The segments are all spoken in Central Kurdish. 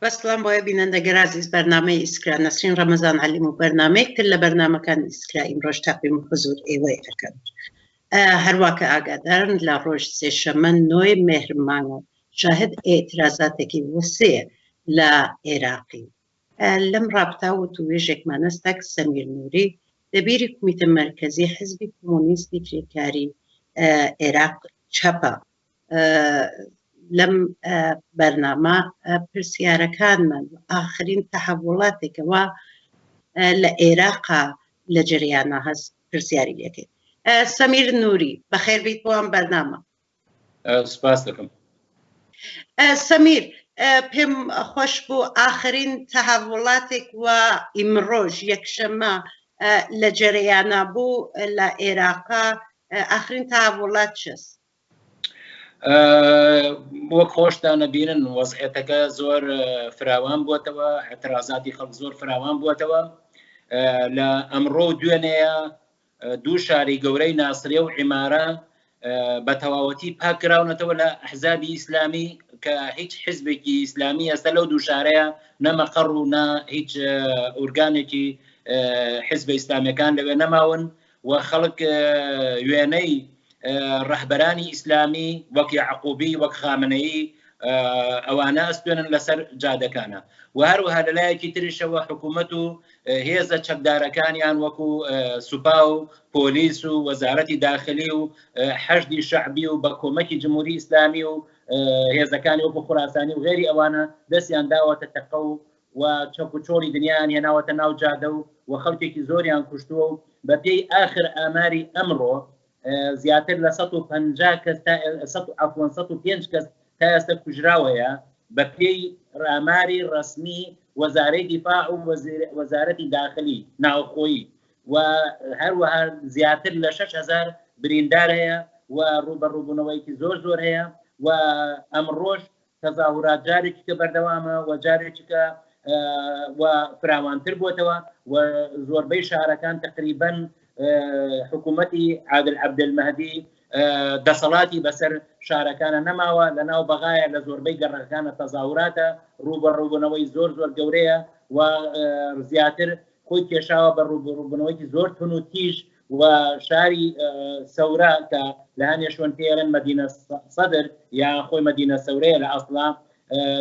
بە سڵام بۆ بینەندە گەرازیز بەرنامەی ئیسکرا نەسرین ڕەمەزان عەلیم و بەرنامەیەک تر لە بەرنامەکانی ئیسکرا ئیمڕۆش تەقدیم و حزور ئێوەی ئەکەم هەرواکە ئاگادارن لە ڕۆژ سێشەمە نۆی مهر مانگە شاهد ئێترازاتێکی وسەیە لە عێراقی لەم ڕابتا و توێژێکمانە ستاک سەمیر نووری دەبیری کومیتە مرکزی حزبی کۆمۆنیستی کریکاری عێراق چەپە لەم بەرنامە پرسیارەکانمان ئاخرین تەحولاتێکەوە لە عێراقا لە جریانە هەست پرسیاری لەکەی سەمیر نووری بەخێر بیت بۆ ئەم بەرنامە سپاس دەکەم سەمیر پێم خۆش بوو ئاخرین تەهاوڵاتێک و ئیمڕۆژ یەکشەمە لە جەرەیانە بوو لە عێراقا ئاخرین تاوڵات چست وەک خۆشتان ئەبینن وەزعیەتەکە زۆر فراوان بووەتەوە، ئەترازاتی خەڵک زۆر فراوان بووەتەوە لە ئەمڕۆ و دوێنێە دوو شاری گەورەی ناسرێ و عیمارە بە تەواوەتی پاکراونەتەوە لە حزابی ئیسلامی کە هیچ حزبێکی ئیسلامی ئێستا لەو دوو شارەیە نەمەقەڕ و نە هیچ ئورگانێکی حزب ئیسلامەکان لەوێ نەماون و خەڵک وێنەی ڕەهبەرانی ئیسلامی وەک یعقوبی وەک خامنەیی ئەوانە ئەستێنن لەسەر جادەکانە و هەروەها لەلایەکی تریشەوە حکوومەت و هێزە چەکدارەکانیان وەکو سوپا و پۆلیس و وەزارەتی داخلی و حەشدی شعبی و بە کۆمەکی جمهوری ئیسلامی و هێزەکانی وەکو خوراسانی و غێری ئەوانە دەستیان داوەتە تەقە و و چەک و چۆڵی دنیایان هێناوەتە ناو جادە و و خەڵکێکی زۆریان کوشتووە و بە پێی ئاخر ئاماری ئەمڕۆ زیاتر لە سەد و پەنجا کەس تا سەد و عەفوەن سەد و پێنج کەس تا ئێستا کوژراو هەیە بە پێی ئاماری ڕەسمی وەزارەی دیفاع و وەزارەتی داخلی ناوخۆیی و هەروەها زیاتر لە شەش هەزار بریندار هەیە و ڕووبەڕووبوونەوەیەکی زۆر زۆر هەیە و ئەمڕۆژ تەزاورات جارێکیکە بەردەوامە و جارێکیکە و فراوانتر بۆتەوە و زۆربەی شارەکان تقریبەن حکوومەتی عادل عبدمەدی دەسەڵاتی بەسەر شارەکانە نەماوە لە ناو بەغایە لە زۆربەی گەڕەکانە تەزاوراتە ڕوبەڕوبوونەوەی زۆر زۆر گەورەیە و زیاتر خۆی کێشاوە بە ڕوبڕوبنەوەی زۆر تون و تیژ و شاری سەورە کە لە هەنێ شوێن پێێرن مەدینە سەدر یا خۆی مەدینە سەورەیە لە ئەسڵا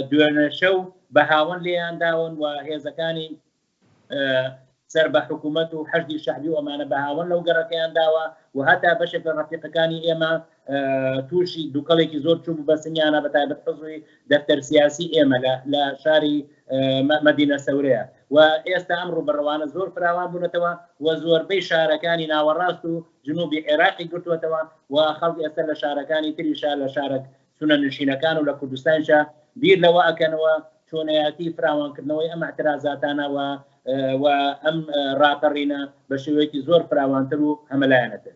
دوێنەشە و بە هاوەن لێیان داون و هێزەکانی سەر بە حکوومەت و حەزی شەعبی ئەمانە بە هاوەن لەو گەڕەکەیان داوە و هەتا بەشێک لە ڕفیقەکانی ئێمە تووشی دووکەڵێکی زۆر چوو بە سنیانە بە تایبەت حزوی دەفتەر سیاسی ئێمە لە شاری مەدینە سەورەیە و ئێستا ئەم ڕوبەڕەوانە زۆر فراوان بوونەتەوە و زۆربەی شارەکانی ناوەڕاست و جنوبی عێراقی گرتووەتەوە و خەڵک ئێستا لە شارەکانی تریشا لە شارە سونە نشینەکان و لە کوردستانشا بیر لەوە ئەکەنەوە چۆنەتی فراوانکردنەوەی ئەم اعترازاتانەوە و ئەم ڕاپەڕینە بە شێوەیەکی زۆر فراوانتر و هەمەلایەنەتر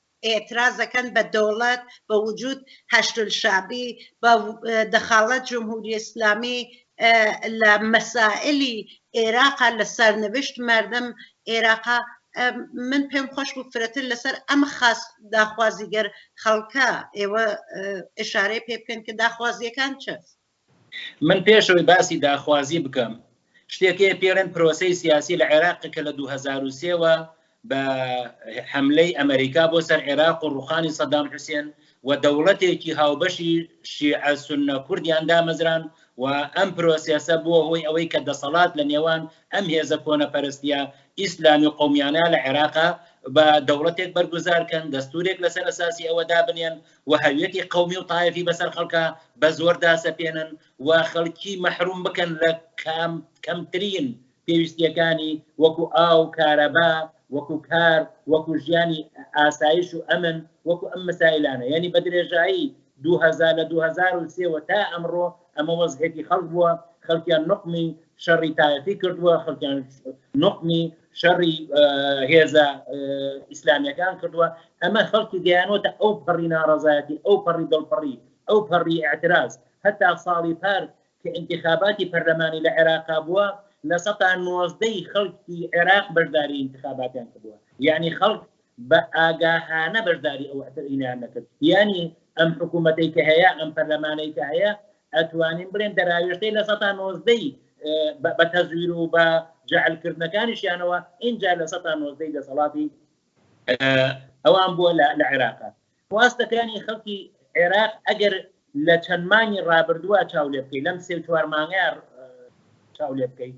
ئێتراز دەکەن بە دەوڵەت بە وجود حەشد الشعبی بە دەخاڵەت جمهوری اسلامی لە مەسائلی ئێراقا لە سەرنوشت مەردم ئێراقا من پێم خۆش بوو فرەتر لەسەر ئەم خاس داخوازیگەر خەڵکە ئێوە اشارەی پێ بکەن کە داخوازیەکان چ من پێش ئەوەی باسی داخوازی بکەم، شتێک هەیە پێڵێن پرۆسەی سیاسی لە عێراق کە لە دوو هەزار و سێ وە بە حەملەی ئەمەریکا بۆ سەر عێراق و ڕوخانی سەدام حوسێن و دەوڵەتێکی هاوبەشی شیعە سونە کوردیان دامەزراند و ئەم پرۆسێسە بووە هۆی ئەوەی کە دەسەڵات لە نێوان ئەم هێزە کۆنەپەرستیە ئیسلامی و قەومیانە لە عێراقا بە دەوڵەتێک بەرگوزار کەن دەستورێک لەسەر ئەساسی ئەوە دابنێن و هەویەتی قەومی و تایەفی بەسەر خەڵکا بە زۆر داسەپێنن و خەڵکی مەحروم بکەن لە کەمترین پێویستیەکانی وەکو ئاو کارەبا وەکو کار وەکو ژیانی ئاسایش و ئەمن وەکو ئەم مسائلانە یعنی بە درێژایی 2000 لە 2023 وە تا ئەمڕۆ ئەمە وەزعێکی خەڵک بووە خەڵکیان نقمی شەڕی تایەتی کردووە خەڵکیان نقمی شەڕی هێزە ئیسلامیەکان کردووە ئەمە خەڵکی گەیانەوەتە ئەو پەڕی ناڕزایەتی ئەو پەڕی دڵپەڕی ئەو پەڕی ئاعتراز هەتا ساڵی پار کە انتخاباتی پەرلەمانی لە عێراقا بووە لە سەتا نۆزدەی خەڵکی عێراق بەشداری انتخاباتیان کردووە یعنی خەڵک بە ئاگاهانە بەشداری ئەو ئەتەوینەیان نەکرد یانی ئەم حکوومەتەی کە هەیە ئەم پەرلەمانەی کە هەیە ئەتوانین بڵێن دەراوێشتەی لە سەتا نۆزدەی بە تەزویر و بە جعلکردنەکانیشیانەوە ئینجا لە سەتا نۆزدەی دەسەڵاتی ئەوان بووە لە عێراقا خواستەکانی خەڵکی عێراق ئەگەر لە چەند مانگی ڕابردووە چاو لێ بکەیت لەم سێ چوار مانگە چاو لێ بکەیت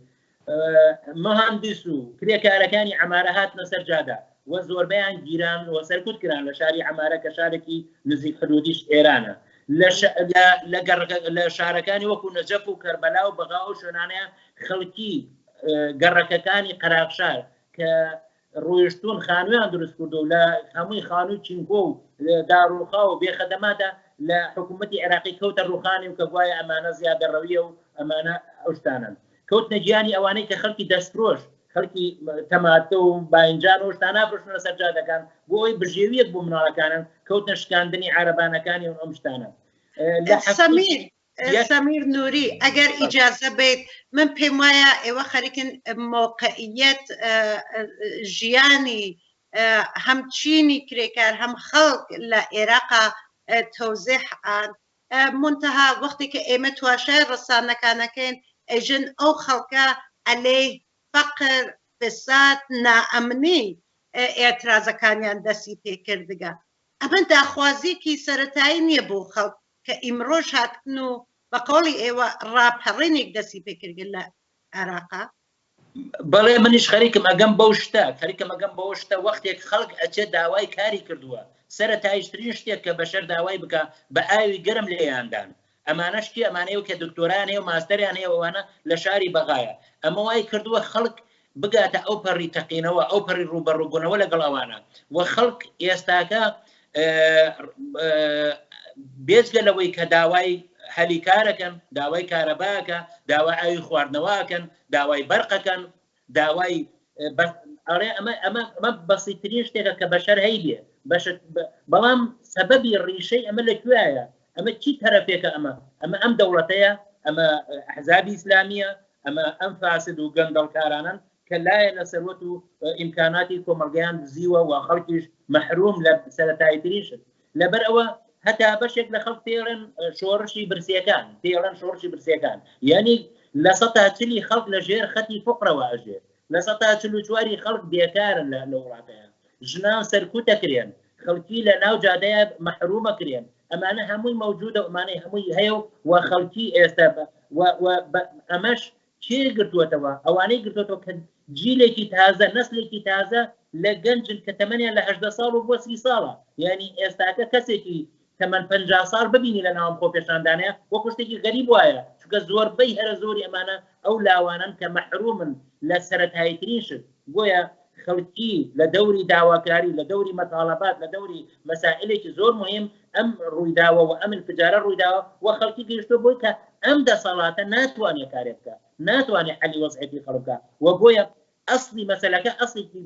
مهندس و کرێکارەکانی ئەمارە هاتنە سەر جادا و زۆربیان گیران و سەرکوت کران لە شاری ئەمارە کە شارێکی نزیک حدودیش ئێرانە لە شارەکانی وەکو نەجەف و کەربەلا و بەغا و شوێنانەیە خەڵکی گەڕەکەکانی قەراغشار کە ڕۆیشتوون خانوویان دروست کردو و لە هەمووی خانووی چینکۆ و داڕووخا و بێخەدەماتە لە حکوومەتی عێراقی کەوتە ڕووخانی و کە گوایە ئەمانە زیادەڕەویە و ئەمانە ئەو شتانەن کەوتنە گیانی ئەوانەی کە خەڵکی دەستفرۆش خەڵکی تەماتە و باینجان و شتان نافرۆشن لەسەر جادەکان بۆ ئەوی بژێویەک بۆ مناڵەکانن کەوتنە شکاندنی عارەبانەکانی و ئەم شتانە سەمیر سەمیر نوری، ئەگەر ئیجازە بەیت من پێم وایە ئێوە خەریکن مەوقعیەت ژیانی هەم چینی کرێکار هەم خەڵک لە ئێراقا تەوزێح ئان منتەها وەختی کە ئێمە تواشای ڕەسانەکانەکەین ئەژن ئەو خەڵکە ئەلێی فەقر فساد نائەمنی ئێترازەکانیان دەسی پێکردگە ئەمە داخوازیەکی سەرەتایی نییە بۆ خەڵک کە ئیمڕۆش هاتن و بە قەوڵی ئێوە ڕاپەڕینیک دەستی پێکردگە لە عێراقا؟ بەڵێ منیش خەریکم ئەگەم بەو شتە، خەریکم ئەگەم بەوە شتە وەختێک خەڵک ئەچێ داوای کاری کردووە، سەرەتاییشترین شتێک کە بەشەر داوای بکا بە ئاوی گەرم لێیان دان، ئەمانەش کێ ئەمانەی کە دکتۆرایان هەیە و ماستەریان هەیە و ئەوانە لە شاری بەغایە ئەمە وای کردووە خەڵک بگاتە ئەو پەڕی تەقینەوە، ئەو پەڕی ڕووبەڕووبوونەوە لەگەڵ ئەوانە و خەڵک ئێستاکە بێجگە لەوەی کە داوای هەلی کارەکەن، داوای کارەباکە، داوای ئاوی خواردنەوەکەن، داوای بەرقەکەن، داوای ئەڵێ ئەمە ئەمە ئەمە بەسیترین شتێکە کە بەشەر هەیە بەش بەڵام سەبەبی ڕیشەی ئەمە لە کوێایە ئەمە چی تەرەفێکە ئەمە ئەمە ئەم دەوڵەتەیە ئەمە حزابی ئیسلامیە ئەمە ئەم فاسد و گەندەڵکارانەن کە لایەنە سەروەت و ئیمکاناتی کۆمەلگەیان دزیوە و خەڵکیش مەحروم لە سەرەتاییترین شت لەبەر ئەوە هەتا بەشێک لە خەڵک پێڵێن شۆڕشی برسیەکان پێڵەن شۆڕشی برسیەکان یعنی لە سەتا چلی خەڵک لە ژێر خەتی فقرەوە ئەژێت لە سەتا چل و چواری خەڵک بێکارن لە لە وڵاتەیە ژنان سەرکوتەکرێن خەڵکی لە ناو جادەیە مەحرومەکرێن ئەمانە هەمووی مەوجودە ئەمانەی هەمووی هەیە و خەڵکی ئێستا ئەمەش کێ گرتووەتەوە ئەوانەی گرتوەوە کە جیلێکی تازە نسلێکی تازە لە گەنجن کە تەمەنیان لەهدە ساڵ و بۆ سی ساڵە یعنی ئێستاکە کەسێکی تەمەەن پ ساڵ ببینی لە ناوم خۆ پێشاندانە وە کوشتێکی غەریب وایە چکە زۆربەی هەرە زۆری ئەمانە ئەو لاوانن کە مەحرومن لە سەرەتاییترین شت بۆیە خەڵکی لە دەوری داواکاری، لە دەوری مەتاڵەبات، لە دەوری مەسائیلێکی زۆر موهیم ئەم ڕوویداوە و ئەم انفجارە ڕوویداوە و خەڵکی گەیشتووە بۆی کە ئەم دەسەڵاتە ناتوانێت کارێ بکات، ناتوانێت حەلی وەزعێتی خەڵک بکات و بۆیە ئەسڵی مەسەلەکە ئەسڵێکی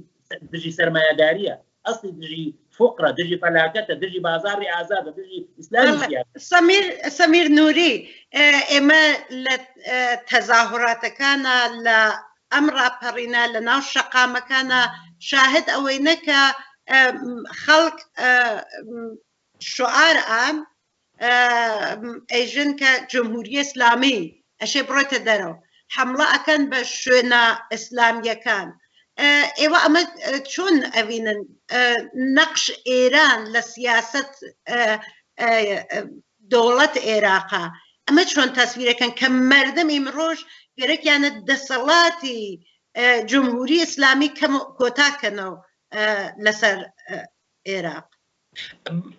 دژی سەرمایەدارییە، ئەسڵی دژی فوقرە دژی فەلاکەتە دژی بازاری ئازادە دژی ئیسلامی سیاسی سەمیر سەمیر نوری ئێمە لە تەزاهوراتەکانە لە ئەم ڕاپەڕینە لە ناو شەقامەکانە شاهد ئەوەی نەکە خەڵک شعار ئان ئێژن کە جمهوری ئێسلامی ئەشێ بڕۆێتە دەرەوە حەمڵە ئەکەن بە شوێنە ئێسلامیەکان ئێوە ئەمە چۆن ئەڤینن نەقش ئێران لە سیاست دەوڵەت عێراقا ئەمە چۆن تەسویرەکەن کە مردم ئیمڕۆژ گەرەکیانە دەسەڵاتی جمهوری ئیسلامی کەم کۆتاکەنەوە لەسەر عێراق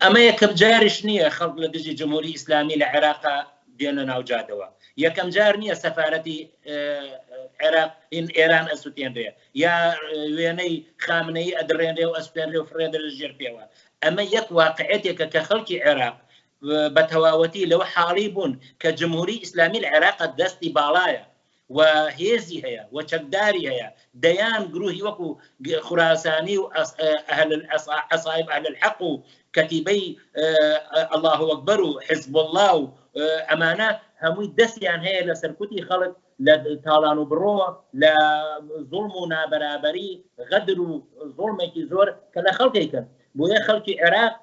ئەمە یەکەم جاریش نییە خەڵک لە دژی جمهوری ئیسلامی لە عێراقا بێنە ناو جادەوە، یەکەم جار نییە سەفارەتی عێراق ئێران ئەسوتێنرێ یا وێنەی خامنەیی ئەدڕێنرێ و ئەسوتێنرێ و فڕێدرێ ژێر پێوە، ئەمە یەک واقعیەتێکە کە خەڵکی عێراق بە تەواوەتی لەوە حاڵی بوون کە جمهوری ئیسلامی لە عێراقا دەستی باڵایە و هێزی هەیە و چەکداری هەیە دەیان گروهی وەکو خوراسانی و عصائب اهل الحق و کەتیبەی اللە اکبر و حزب اللە و ئەمانە هەمووی دەستیان هەیە لە سەرکوتی خەڵک لە تاڵان و بڕۆ لە زوڵم و نابەرابەری غەدر و زوڵمێکی زۆر کە لە خەڵکێکن بۆیە خەڵکی عێراق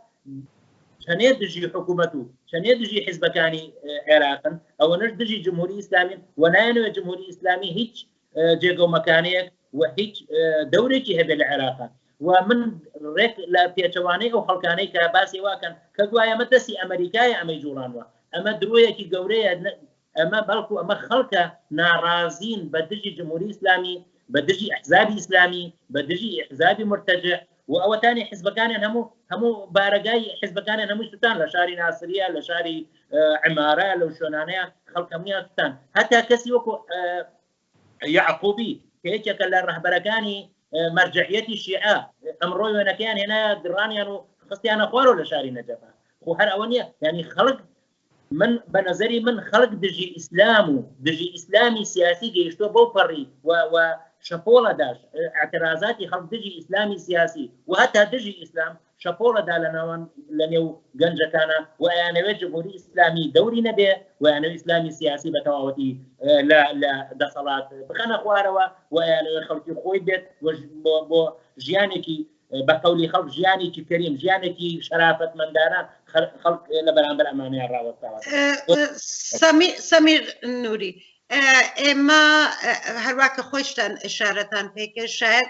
چەنێ دژی حکوومەت و چەنێ دژی حیزبەکانی عێراقن ئەوەنەش دژی جمهوری ئیسلامین و نایەنەوە جمهوری ئیسلامی هیچ جێگەومەکانەیەک و هیچ دەورێکی هەبێ لە عێراقا و من ڕێک لە پێچەوانەی ئەو خەڵکانەی کە باسی واکەن کە گوایە مە دەستی ئەمریکای ئەمەی جوڵانوە ئەمە درۆیەکی گەورەیە ئەمە بەڵکو ئەمە خەڵکە ناڕازین بە دژی جمهوری ئیسلامی، بە دژی ئەحزابی ئیسلامی، بە دژی ئەحزابی مورتەجع و ئەوەتانی حزبەکانیان هەموو هەموو بارەگای حزبەکانیان هەمووی سوتان لە شاری ناسریە، لە شاری عمارە، لەو شوێنانەیە خەڵکە هەموویان سوتان هەتا کەسی وەکو یەعقوبی کە یەکێکە لە ڕەهبەرەکانی مەرجعیەتی شیعە ئەمڕۆی وێنەکەیان هێنا گڕانیان و خستیانە خوارەوە لە شاری نەجەبە خۆ هەر ئەوە نیە ینی خەڵک من بە نظری من خەڵک دژی ئیسلام و دژی ئیسلامی سیاسی گەیشتۆ بەو پەڕی و شەپۆڵەداش اعترازاتی خەڵک دژی ئیسلامی سیاسی و هەتا دژی ئیسلام شەپۆڵە دا لە ناوان لە نێو گەنجەکانا و ئەیانەوێت جمهوری ئیسلامی دەوری نەبێ و یانەوە ئیسلامی سیاسی بە تەواوەتی لە دەسەڵات بخەنە خوارەوە و ئەیانەوە خەڵکی خۆی بێت بۆ ژیانێکی بە قولی خەڵک ژیانێکی کەریم ژیانێکی شەرافەت مندانە خەڵک لە بەرامبەر ئەمانەیان ڕاوەستاوە سەمیر نووری ئێمە هەروواکە خۆشتان ئشارەتان پێکە شاید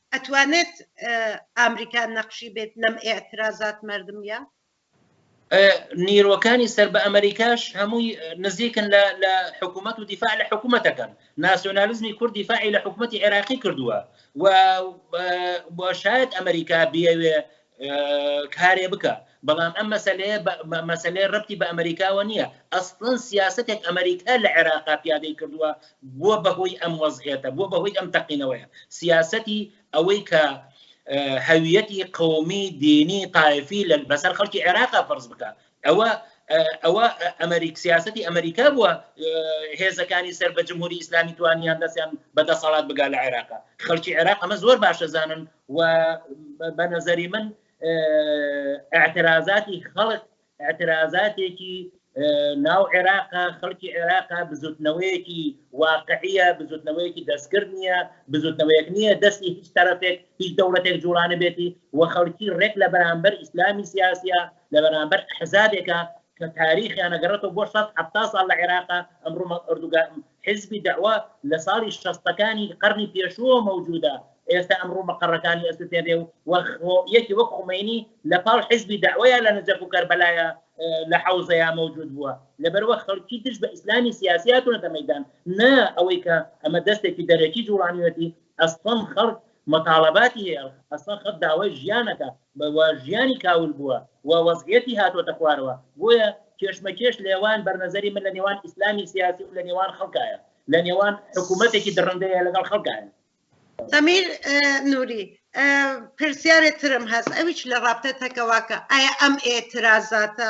ئەتوانێت ئامریکا نەقشی بێت لەم ئیعترازات مەردمیە؟ نیرۆکانی سەر بە ئەمریکاش هەمووی نزیکن لە لە حکوومەت و دیفاع لە حکوومەتەکەن ناسیۆنالیزمی کورد دیفاعی لە حکوومەتتی عێراقی کردووە و شاید ئەمریکا بیاوێ کارێ بکە بەڵام ئەم مەسەلەیە مەسەلەی ڕەتی بە ئەمریکاوە نییە ئەسڵەن سیاستێک ئەمریکا لە عێراقا پیادەی کردووە بووە بەهۆی ئەم وەزعێتە بووە بەهۆی ئەم تەقینەوەیە سیاستی ئەوەی کە هەویەتی قومی دینی تایفی لە بەسەر خەڵکی عێراقا فەرز بکە ئەوە ئەوە ئەمریک سیاستی ئەمریکا بووە هێزەکانی سەر بە جمهوری ئیسلامی توانیان دەستیان بە دەسەڵات بگا لە عێراق خەڵکی عێراق ئەمە زۆر باشە زانن و بە نەزەری من اعترازاتی خەڵک اعترازاتێکی ناو عێراق خەڵکی عێراق بزوتنەوەیەکی واقعە بزوتنەوەیەکی دەستکرد نییە بزوتنەوەیەک نییە دەستی هیچ تەرەفێک هیچ دەوڵەتێک جوڵانە بێتی و خەڵکی ڕێک لە بەرامبەر ئیسلامی سیاسە لە بەرامبەر حزابێکە کە تاریخیان نەگەڕێتەوە بۆ شەست حتا ساڵ لە عێراقا ئەمڕۆ ئەردوگا حزبی داوا لە ساڵی شەستەکانی قەرنی پێشووە مەوجودا ئێستا ئەمڕۆ مەقەڕەکانی ئەسوتێنێ و یەکی وەک خومینی لە پاڵ حزبی داوایە لە نەجەف و کەربەلایە لە حوزەیە مەوجود بووە لەبەروە خەڵکی دژ بە ئیسلامی سیاسیاتونەتە مەدان نا ئەوەی کە ئەمە دەستێکی دەرەکی جوڵانیەتی ئەستۆم خەڵک متاڵەباتی هەیە ئەسڵەن خەت داوای ژیانەکە بە وە ژیانی کاول بووە وە وەزعیەتی هاتۆتە خوارەوە بۆیە کێشمەکێش لەێوان بەرنەزەری من لە نێوان ئیسلامی سیاسی و لە نێوان خەڵکایە لە نێوان حکوومەتێکی دڕندەیە لەگەڵ خەڵکایە ئەمیر نوری پرسیارێ ترم هەست ئەویش لە ڕاپتە تەکەواکە ئایا ئەم ئێترازاتە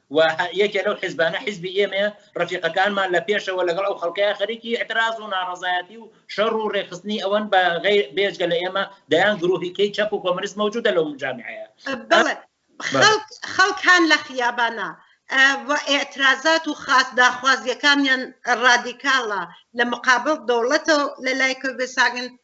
و یەکێ لەو حیزبانە حیزبی ئێمەیە، رەفیقەکانمان لە پێشەوە لەگەڵ ئەو خەڵکەیا خەریکی ئیعتراز و ناڕەزایەتی و شەڕ و رێکخستنی ئەوەن بە غەی بێجگە لە ئێمە دەیان گرووهی کەی چەپ و کۆمەنیست مەوجوودە لەو جامعەیە. بەڵێ خەڵک خەڵک هان لە خیابانا و ئیعترازات و خاس داخوازیەکانیان رادیکاڵە لە مقابڵ دەوڵەتەو لە لای کۆبێساگن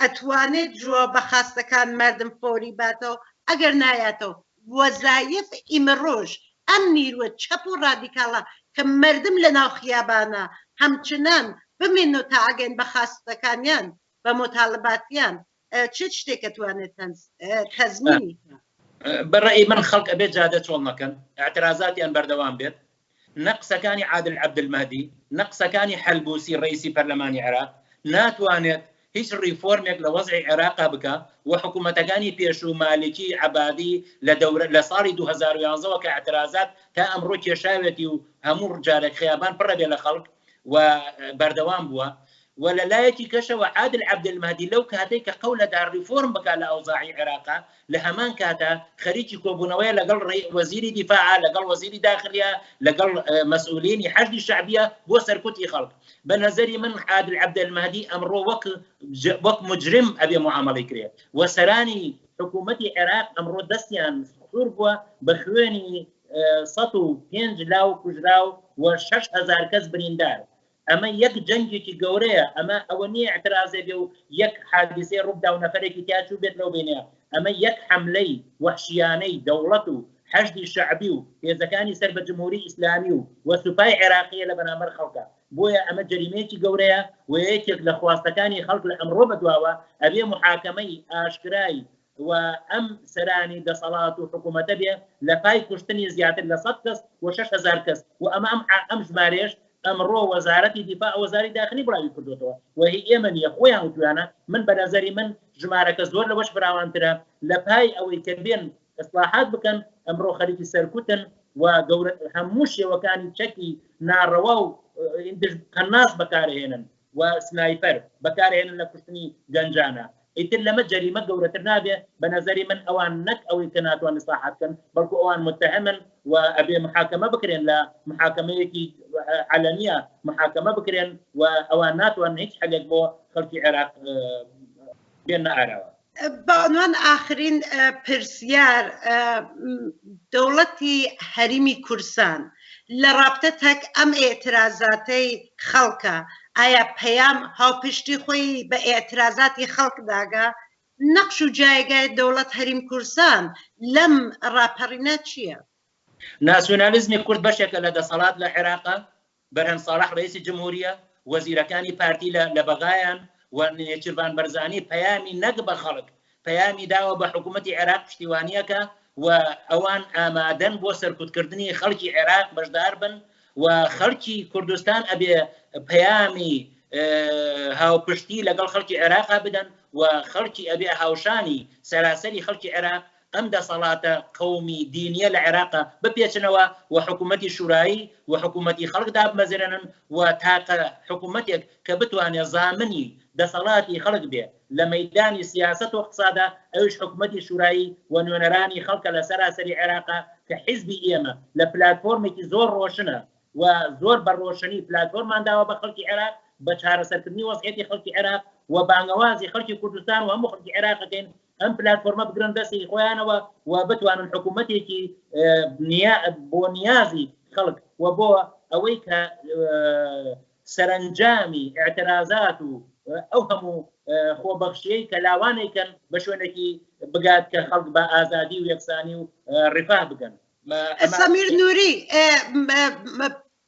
ئەتوانێت جوابە خاستەکان مردم فۆری باتەوە ئەگەر نایاتەوە وەزایف ئیمڕۆش ئەم نیروە چەپ و ڕادیکاڵە کە مردم لە ناو خیابانە هەمچنان بمێننەوە تا ئەگەن بە خاستەکانیان بە موتالباتیان چ شتێک ئەتوانێت تەزمینی بکات؟ بە ڕەئی من خەڵک ئەبێت جادە چۆڵ نەکەن ئیعترازاتیان بەردەوام بێت نە قسەکانی عادل عەبدولمەهدی، نە قسەکانی حەلبوسی ڕەیسی پەرلەمانی عێراق ناتوانێت هیچ ڕیفۆرمێک لە وەزعی عێراقا بکا و حکومەتەکانی پێشوو مالکی، عەبادی لە دەورە لە ساڵی دوو هەزار و یازدە وە کە ئیعترازات تا ئەمڕۆ کێشاوێتی و هەموو جارێک خەیابان پڕە بێ لە خەڵک و بەردەوام بووە و لە لایەکی کەشەوە عادل عەبدولمەهدی لەو کاتەی کە قەولەدا ڕیفۆرم بکا لە ئەوزاعی عێراقا لە هەمان کاتا خەریکی کۆبوونەوەیە لەگەڵ وەزیری دیفاع، لەگەڵ وەزیری داخلیە، لەگەڵ مەسئولینی حەشدی شەعبیە بۆ سەرکوتی خەڵک. بە نەزەری من عادل عەبدەلمەهدی ئەمڕۆ وەک وەک موجرم ئەبێ موعامەڵەی کرێ و سەرانی حکوومەتی عێراق ئەمڕۆ دەستیان سوور بووە بە خوێنی سەد و پێنج لاو کوژراو و شەش هەزار کەس بریندار. ئەمە یەک جەنگێکی گەورەیە ئەمە ئەوە نیە ئیعترازێ بێ و یەک حادیسەی ڕووبدا و نەفەرێکی تیا چووبێت لەو بینە ئەمە یەک حەملەی وەحشیانەی دەوڵەت و حەشدی شەعبی و هێزەکانی سەر بە جمهوری ئیسلامی و و سوپای عێراقیە لە بەرامبەر خەڵکا بۆیە ئەمە جەریمەیەکی گەورەیە و یەکێک لە خواستەکانی خەڵک لە ئەمڕۆ بەدواوە ئەبێ محاکەمەی ئاشکرای و ئەم سەرانی دەسەڵات و حکومەتە بێ لە پای کوشتنی زیاتر لە سەد کەس و شەش هەزار کەس و ئەمە ئەم عە ئەم ژمارەیەش ئەمڕۆ وەزارەتی دیفاع و وەزاری داخلی بڵاوی کردۆتەوە و هی ئێمە نییە خۆیان وتویانە من بە نەزەری من ژمارەکە زۆر لەوەش فراوانترە لە پای ئەوەی کە بێن ئیسلاحات بکەن ئەمڕۆ خەریکی سەرکوتن و گەورە هەموو شێوەکانی چەکی ناڕەوا و قەناس بەکارهێنن و سنایپەر بەکارئەهێنن لە کوشتنی گەنجانە ئیتر لەمە جەریمە گەورەتر نابێ بەنەزەری من ئەوان نەک ئەوەی کە ناتوان ئیسلاحات بکەن بەڵکو ئەوان متەهەمن و ئەبێ محاکەمە بکرێن لە محاکەمەیەکی عەلەنیە محاکەمە بکرێن و ئەوان ناتوان هیچ حەلێک بۆ خەڵکی عێراق بێننە ئاراوە. بانوان ئاخرین پرسیار دەوڵەتی هەریمی کورسان لە ڕابتە تەک ئەم ئێترازاتەی خەڵکە ئایا پەیام هاوپشتی خۆی بە ئێترازاتی خەڵک داگا نەقش و جایگای دەوڵەت هەریم کورسان لەم ڕاپەڕینە چییە؟ ناسیۆنالیزمی کورد بەشێکە لە دەسەڵات لە عێراقا، بەرهەم ساڵح ڕەیسی جمهوریە، وەزیرەکانی پارتی لە لە بەغایان و نێچیرڤان بەرزانی پەیامی نەک بە خەڵک، پەیامی داوە بە حکوومەتی عێراق پشتیوانییەکە و ئەوان ئامادەن بۆ سەرکوتکردنی خەڵکی عێراق بەشدار بن و خەڵکی کوردستان ئەبێ پەیامی هاوپشتی لەگەڵ خەڵکی عێراقا بدەن و خەڵکی ئەبێ هاوشانی سەراسەری خەڵکی عێراق ئەم دەسەڵاتە قەومی دینیە لە عێراق بپێچنەوە و حکومەتی شورایی و حکومەتی خەڵک دابمەزرێنن و تاقە حکومەتێک کە بتوانێ زامنی دەسەڵاتی خەڵک بێ لە مەیدانی سیاسەت و ئقتسادا ئەویش حکومەتی شورایی و نوێنەرانی خەڵکە لە سەراسەری عێراق کە حیزبی ئێمە لە پلاتفۆرمێکی زۆر ڕۆشنە و زۆر بە ڕۆشنی پلاتفۆرمان داوە بە خەڵکی عێراق بە چارەسەرکردنی وەزعیەتی خەڵکی عێراق و بانگەوازی خەڵکی کوردستان و هەموو خەڵکی عێراق ئەکەین ئەم پلاتفۆرمە بگرن دەستی خۆیانەوە و بتوانن حکوومەتێکی بۆ نیازی خەڵک و بۆ ئەوەی کە سەرنجامی اعترازات و ئەو هەموو خۆبەخشیەی کە لاوانێکن بە شوێنێکی بگات کە خەڵک بە ئازادی و یەکسانی و ڕفاه بگەن سەمیر نووری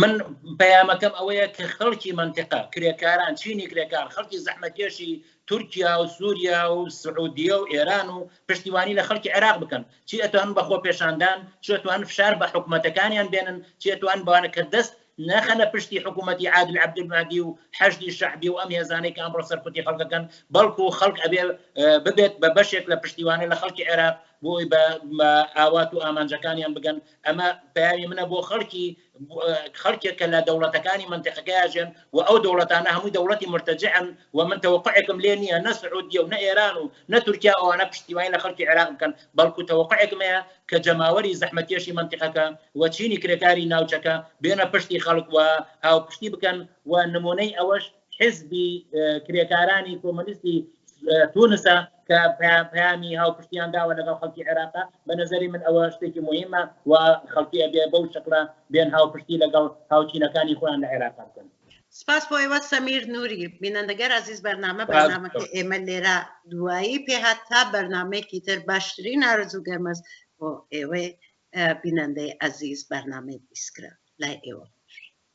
من پەیامەکەم ئەوەیە کە خەڵکی منتقە کرێکاران چینی کرێکار خەڵکی زەحمەتێشی تورکیا و سووریا و سعودیە و ئێران و پشتیوانی لە خەڵکی عێراق بکەن چی ئەتوان بەخۆ پێشاندان چێتوان فشار بە حکوومەتەکانیان بێنن چێتوان بوانە کە دەست نەخەنە پشتی حکوومەتی عادل عبدمادی و حەشدی شعبی و ئەم هێزانەی کە ئەمڕۆ سەرکوتی خەڵکەکەن بەڵکو و خەڵک ئەبێ ببێت بە بەشێک لە پشتیوانە لە خەڵکی عێراق بۆی بە ئاوات و ئامانجەکانیان بگەن ئەمە پەیامی منە بۆ خەڵکی خەڵکێک کە لە دەوڵەتەکانی منتیقەکەیاژێن و ئەو دەوڵەتانە هەمووی دەوڵەتی مرتەجعن و من تەوەقعێکم لێ نییە نە سعودیە و نە ئێران و نە تورکیا ئەوانە پشتیوانی لە خەڵکی عێراق بکەن بەڵکو تەوەقعێکم هەیە کە جەماوەری زەحمەتکێشی منتیقەکە و چینی کرێکاری ناوچەکە بێنە پشتی خەڵک و هاوپشتی بکەن و نمونەی ئەوەش حیزبی کرێکارانی کۆمۆنیستی تونسە کە پەیامی هاوپشتیان داوە لەگەڵ خەڵکی عێراقا بە نظری من ئەوە شتێکی مهمە و خەڵکی ئەبێ بەو شکلە بێن هاوپشتی لەگەڵ هاوچینەکانی خۆیان لە عێراق بکەن سپاس بۆ ئێوە سەمیر نوری بینەندەگەر ئازیز بەرنامە بەنامەکە ئێمە لێرە دوایی پێهات تا بەرنمەیەکی تر باشترین نارزوو گەرمەز بۆ ئێوەی بینەندەی ئازیز بەرنمەی بیسکرا لای ئێوە